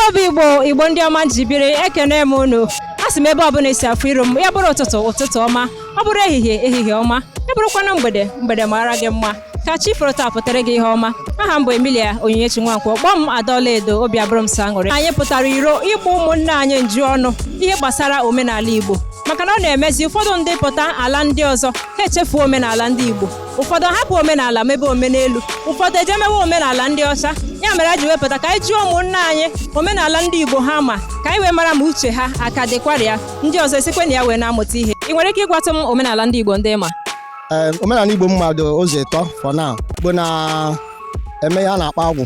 obi igbo igbo ndị ọma m ji biri ekene m unu asị m ebe ọbụla esi afụ iru m ya bụrụ ụtụtụ ụtụtụ ọma ọ bụrụ ehihie ehihie ọma ya bụrụkwanụ mgbede mgbede mara gị mma ka chi foro taa pụtara gị ihe ọma aha m bụ Emilia Onyinyechi Nwankwo kpọọ m Ada Ọlaedo obi abụrụ m sọ aṅụrị anyị pụtara iro ịgba ụmụnne anyị njụ ọnụ ihe gbasara omenala Igbo maka na ọ na-emezi ụfọdụ ndị pụta ala ndị ọzọ ha echefuo omenala ndị Igbo ụfọdụ hapụ omenala mebe omenelu ụfọdụ eje mewe omenala ndị ọcha ya mere a ji wepụta ka anyị jụọ ụmụnna anyị omenala ndị igbo ha ma ka anyị wee mara ma uche ha aka dịkwara ya ndị ọzọ esikwe na ya wee na-amụta ihe ị nwere ike ịgwatụ m omenala ndị igbo ndị ị ma omenala igbo m ma dị ụzọ ịtọ for now igbo na-eme ihe a na-akpọ agwụ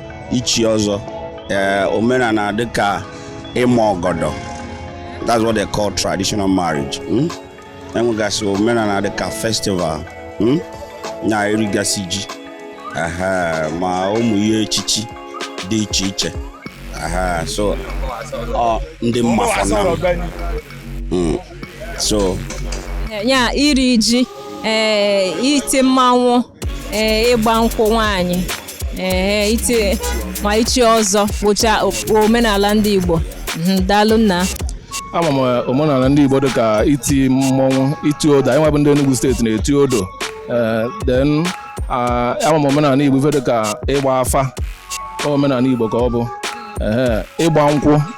ichi ọzọ ee eh, omenala dịka ịma ọgọdọ that's what they call traditional marriage hmm? e nwegasị omenala dịka festival hmm? na irigasị ji ma ụmụ ihe echichi dị iche iche so ndị m ma for now hmm. so ya iri ji ee eh, iti mmanwụ ee eh, ịgba nkwụ nwaanyị ee eh, iti ma ichi ọzọ bụcha omenala ndị Igbo mhm, daalụ nna ama m omenala ndị Igbo dịka iti mmọnwụ iti odo anyị nwa bụ ndị Enugu steeti na-eti odo then ama m omenala Igbo ife dịka ịgba afa omenala Igbo ka ọ bụ ịgba nkwụ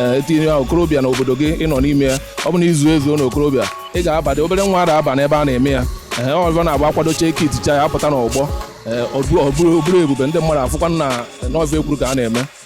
ee etinye ya okorobịa na obodo gị ị nọ n'ime ya ọ bụ na i zuo ezuo na okorobịa ị ga-abadị obere nwa ada aba n'ebe a na-eme ya ee ọzọ na-agba akwadocha eke iticha ya apụta n'ọgbọ ee ọ bụrụ ọ bụrụ ebube ndị mmadụ afụkwa na n'ọzọ ekwuru ka a na-eme